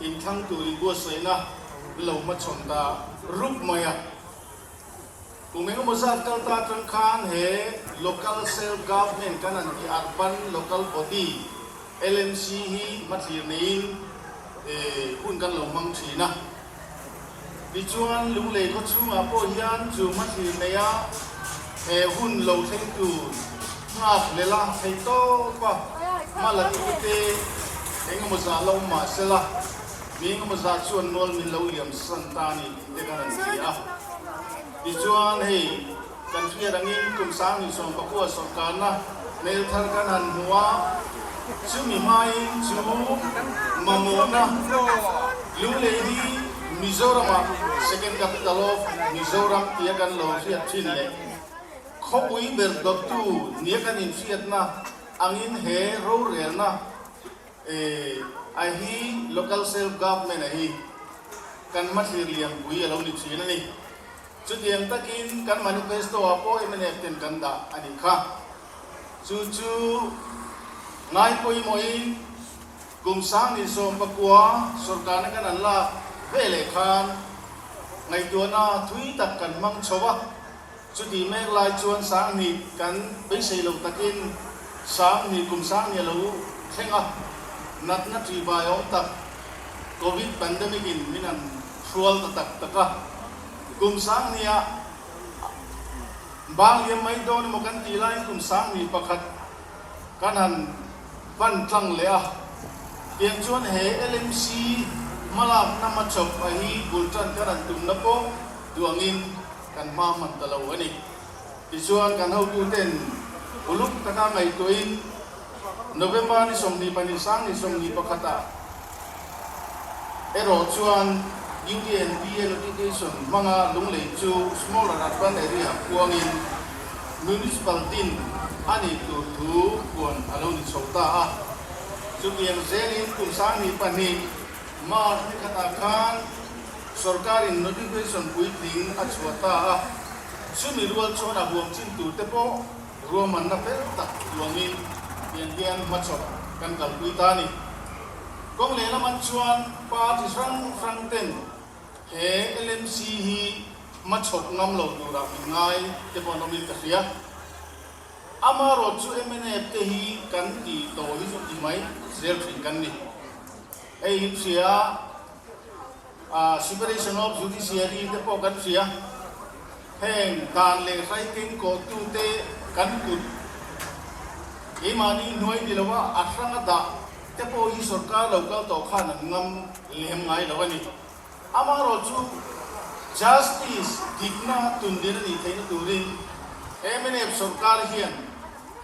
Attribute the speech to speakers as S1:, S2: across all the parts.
S1: Inthlang tur in buatsaihna lo hmachhawn ta rup mai a. Kum engemaw zat kal ta atang khan he Local Self Government kan an tih ar pan Local Body, LMC, hi hmathlir neiin hun kan lo hmang thin a. Ni chuan lunglei khaw chhungah pawh hian chu hma thlir nei a, he hun lo thleng tur nghak leh lang thei tawpa hma la ti te eng emaw zah la awm mah se la, mi eng emaw zah chuan nual min lo liam san ta a ni tih te khan an ti a. Ni chuan hei. Kan fiat angin kum sang ni chuan pakua sawrkarna hmel thar kan han hmu a, chumi hmain chu mamawhna lu lei hi Mizorama Second Capital of Mizoram tia kan lo hriat thin leh khawpui ber dawttu nia kan infiatna angin he rorelna a hi Local Self Government a hi kan hmathlir liam pui a lo ni thin a ni. Chutiang takin kan manifesto-ah pawh MNF ten kan dah a nih kha. Chu chu ngai pawimawhin kum sangni sawm pakua sorkarna kan an lak ve leh khan ngaihtuahna thui tak kan hmang chho va, chutih mek lai chuan sanghnih kan beisei lo takin sanghnih kum sanghnih a lo thleng a, natna ṭihbai awm tak Covid pandemic-in min an hrual ta tak tak a. Kum Sangni a bang liam mai dawn emaw kan tih laiin Kum Sangni pakhat kan han pan tlang leh a. Tiang chuan he LMC hmalakna machop a hi bultan kan han tumna pawh duangin kan hma hman ta lo a ni. Tichuan kan hotute'n uluk taka ngaihtuahin November ni sawmhnih pahnih Sangni sawmhnih pakhatah, Erawh chuan UTNBA Notification hmanga lunglei chu Small and Urban Area puangin Municipality-in a nih tur thu puan a lo ni chho ta a. Chutiang zelin kum sanghnih pahnih March ni khatah khan sorkarin Notification puitling a chhuah ta a, chumi rual chuan a huam chin turte pawh Ruahmanna ber tak luangin tiang hian hmachawp kan kalpui ta a ni. Kawng leh lamah chuan party hrang hrang ten he LMC hi hmachawp ngam lo turah min ngai te pawh an awmin ka hria. Amarawt chu MNF te hi kan ti tawh hi chu ti mai zel thin kan ni. Hei in hria. Separation of Judiciary te pawh kan hria, heng dan leh hlai keng kawhtu te kan kut. Keimahni hnuai ni loh a a hrang a dah te pawh hi sorkar lo kal tawh khan an ngam lem ngai lo a ni. Amaherawh chu Justice dikna tundin a nih theihna turin mnf sorkar hian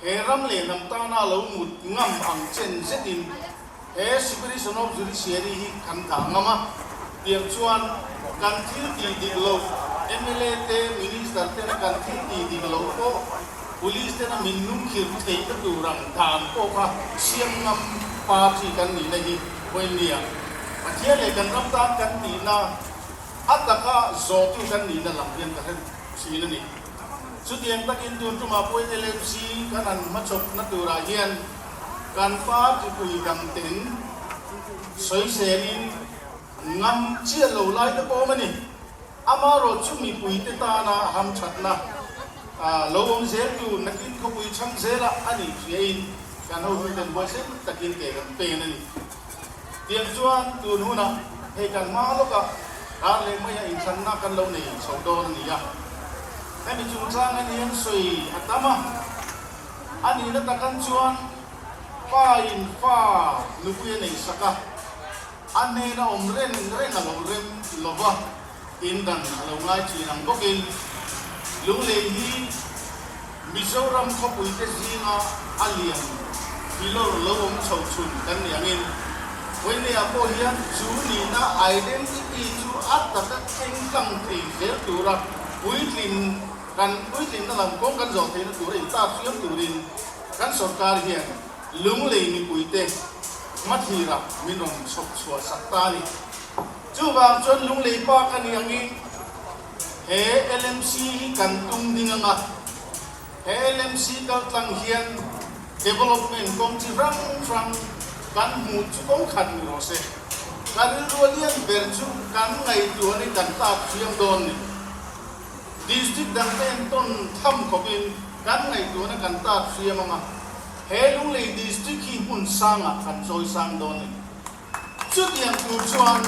S1: he ram leh hnam tana lo mut ngam ang chen zetin he Separation of Judiciary hi kan dah ngam a tiang chuan kan thil tih dik loh mla te, minister tena kan thil tih dik loh pawh police tena min nung khirh theihna tur ang dan pawh kha siam ngam party kan nihna hi vawi ni ang. Pathian leh kan ram tan kan tihna a taka zawhtu kan nihna lam hian ka hre thin a ni. Chutiang takin tun tumahpui LFG kan han hmachawpna turah hian kan pa Thupui dangte'n sawi zelin ngam chiah lo lai te pawm a ni. Amarawh chu mipuite tana hamthatna lo awm zel tur nakin khawpui chhang zela a nih hriain kan hotuten buaisel takin ke kan pen a ni. Tiang chuan tun hunah hei kan hmang lawkah rar leh maia inthlanna kan lo nei chhoh dawn a ni a. Hemi chungchangah hian sawi a tam a, a nihna takan chuan Pain fa nupui a nei sak a, a hnena awm reng reng a lo rem lova. In kan a lo ngai thin ang bawkin Lunglei hi Mizoram khawpuite zinga a lian pi lawr lo awm chho chhun kan ni angin Hoinea pawh hian chu nihna identity chu a taka chengtlang thei zel tura puitlin kan puitlinna lam kawng kan zawh theihna tura intarfiam turin kan sorkar hian Lunglei mipuite hmathlir ah min rawn chhawp chhuah sak ta a ni. Chuvang chuan Lunglei pa ka ni ang i, he lmc hi kan tum ding ang a, he lmc kaltlang hian development kawng chi hrang hrang kan hmuh chu ko khat ni rawh se, ka rilru lian ber chu kan ngaihtuah hi kan tlakṭhiam dawn ni. District dangte in tawn tham khawp in kan ngaihtuahna kan tlakṭhiam ang a, he Lunglei District hi hmun sangah kan chawisang dawn ni. Chutiang tur chuan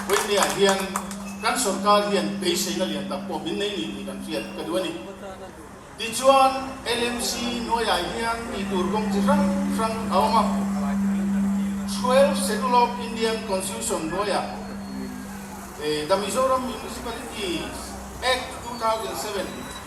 S1: Vawitea hian kan sorkar hian beiseina lian tak pawh min nei ni tih kan hriat ka duh a ni. Tichuan, LMC hnuaiah hian ti tur kawng chi hrang hrang a awm a. Twelve Schedule of Indian Constitution hnuaiah The Mizoram Municipalities Act two thousand seven,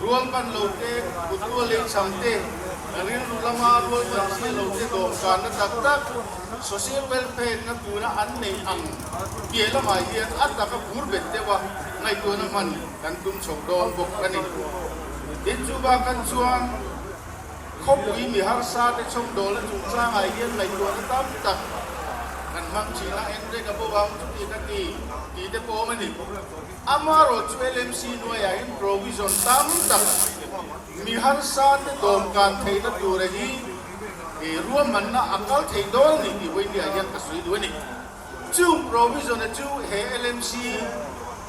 S1: Rual pan lo te, kuttual lei chhang te, rilru lama rual pan chhiar lo te dawhkanna tak tak, social welfare na tura an neih ang tih lamah hian a taka bur bet deuh a, ngaihtuahna hman kan tum chho dawn bawk a ni. Inchuba khan chuan khawpui mi harsa te chawmdawl a chungchangah hian ngaihtuahna tam tak kan hmang thin a, engreng a bo ang chuti ka ti tih te pawh a awm a ni. Amarawh chu LMC hnuaia in provision tam tak mi harsa te dawmkan theihna tura hi ruahmanna a kal thei dawl ni tih Vawinia hian ka sawi duh a ni. Chung provision a chu he LMC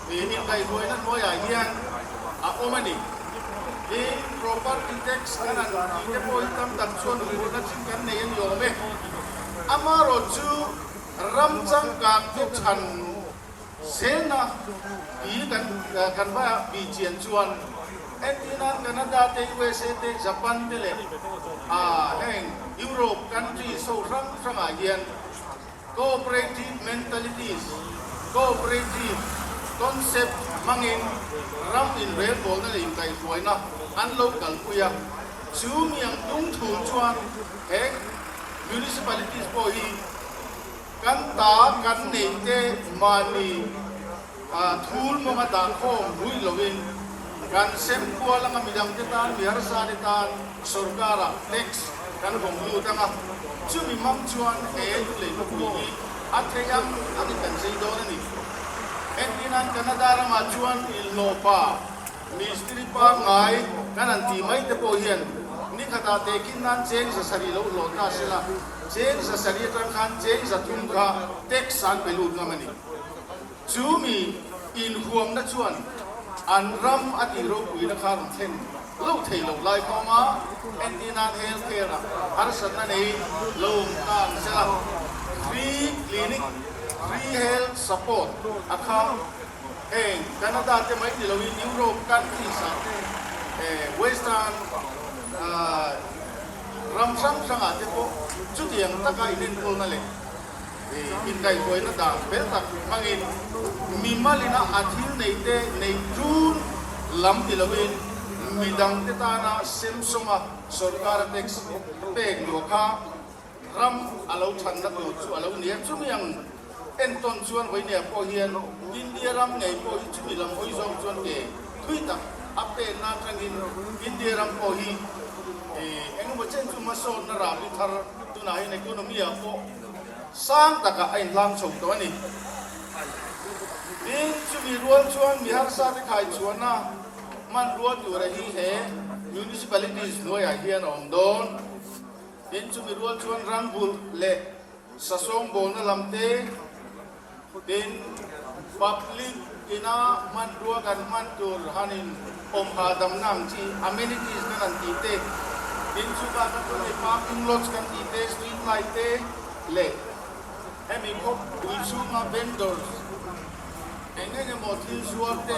S1: inkaihhnuaina hnuaiah hian a awm a ni. He property tax kan an ti te pawh hi tam tak chuan hmuhna chin kan nei a ni awm e. Amarawh chu ram changkang te chhan. Selna i kan kan va bih chian chuan entir nan Canada te usa te Japan te leh aa heng Europe country saw hrang hrang ah hian cooperative mentalities cooperative concept hmangin ram inrelbawlna leh inkaihhruaina an lo kalpui a, chu niang dungthul chuan he municipalities pawh hi. Kan ta kan nei te mahni thul mawnga dahkhawm ruih loin kan sem kual anga mi dang te tan, mi harsa te tan sorkarah tax kan hawng lut ang a. Chumi mam chuan he Tlulei Khawpui hi a theih ang angin kan zei dawn a ni. Hetinan Canada ramah chuan ilhnawpa. Mistiri pangngai kan han ti mai te pawh hian ni khat ah te kin nan cheng za sarih lo hlawh ta si la, cheng za sarih atang khan cheng za thum kha tax an pe lut ngam a ni. Chu mi in huam na chuan an ram a tih ropui na kha rawn thlen lo thei lo lai thawm a, entir nan health care ah harsat na nei lo awm ta ang che la, free clinic, free health support a kha. heng Canada te mai tilo in Europe countries ah te eh western ah ram hrang hrang ah te pawh chutiang taka in enkawl na leh eh in kaihhruai na dan fel tak hmang in mi malin a a thil nei te nei tun lam ni lo in midang te tan a sem sawm a sorkar a tax pek duh a kha Ram a lo ṭhanna tur chu a lo ni a. Chumi ang entawn chuan Vawinia pawh hian India ram ngei pawh hi chumi lam awi zawk chuan ke thui tak a pêtna aṭangin India ram pawh hi ih engemaw chen chu hmasawnna râpui thar tunahin economy ah pawh sang takah a inhlang chho tawh a ni. Tin, chumi rual chuan mi harsa te khaichhuahna hmanrua tura hi he municipalities hnuaiah hian a awm dawn. Tin, chumi rual chuan rambulh leh sasawng bawlna lam te, tin, public ina hmanrua kan hman tur han in awm hahdamna ang chi amenities kan an tih te, tin, chutah khan chuan hei parking lots kan tih te, street light te leh hemi khawpui chhunga vendors eng eng emaw thil zuar te,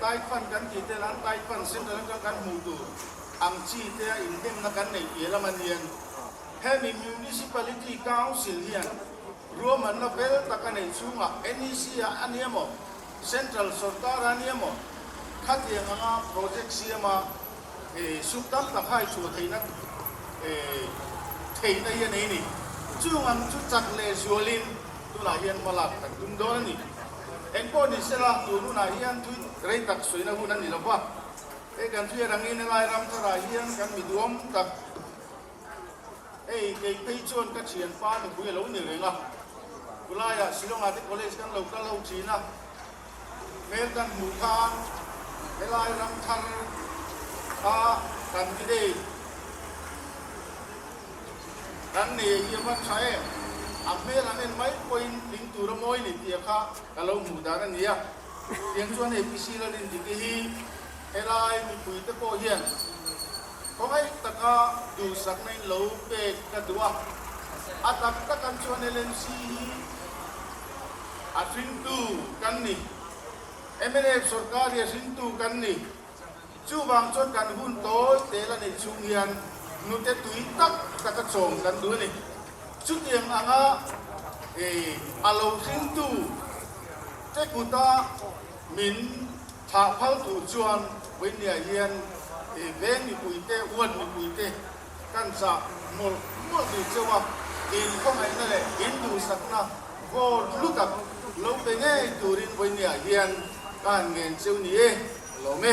S1: Thai fan kan tih te lam Thai fan central atang kan hmuh tur ang chi te a inhengna kan neih piah lam a nia. Hemi Municipality Council hian ruahmanna vel tak a neih chunga NEC a a nia maw, Central Sorkar a nia maw, khatiang anga project siama suk tam tak hai chhuah theihna theihna hi a nei a ni. Chungang chu chak leh zualin tunah hian hmalak kan tum dawn a ni. Engpawh ni se lak tur hunah hian thui rei tak suihna hun a ni lo va, hei kan thuia rangin helai ramtarah hian kan mi duam tak hei kei phei chuan ka thian pa ka hui a lo ni reng a, khulaiah Shillong-ah te college kan lo kal ho thin a, hmel kan hmuh khan helai ramthar a kan ti daih. Kan nei hi a hman tha em? A hmel an en mai pawhin hling tur a mawi ni tih a kha ka lo hmuh dan a nia. Tiang chuan hei pisi la din dik hi helai mipui te pawh hian khawhai taka duhsakna in lo pek ka duh a. A tak tak an chuan LMC hi a hringtu kan ni. MNF sorkar hi a hringtu kan ni. Chuvang chuan kan hun tawi tel a neih chhung hian nute tui tak taka chawm kan duh a ni. Chutiang anga a lo tlingtu te kuta min thah phal thu chuan Vawinia hian veng mipuite, uan mipuite Kan chak mawlh mawlh duh cheu a, in khawngaihna leh in duhsakna vawr hlu tak lo pe ngei turin vawinia hian kan ngen cheu ni e, a lawm e.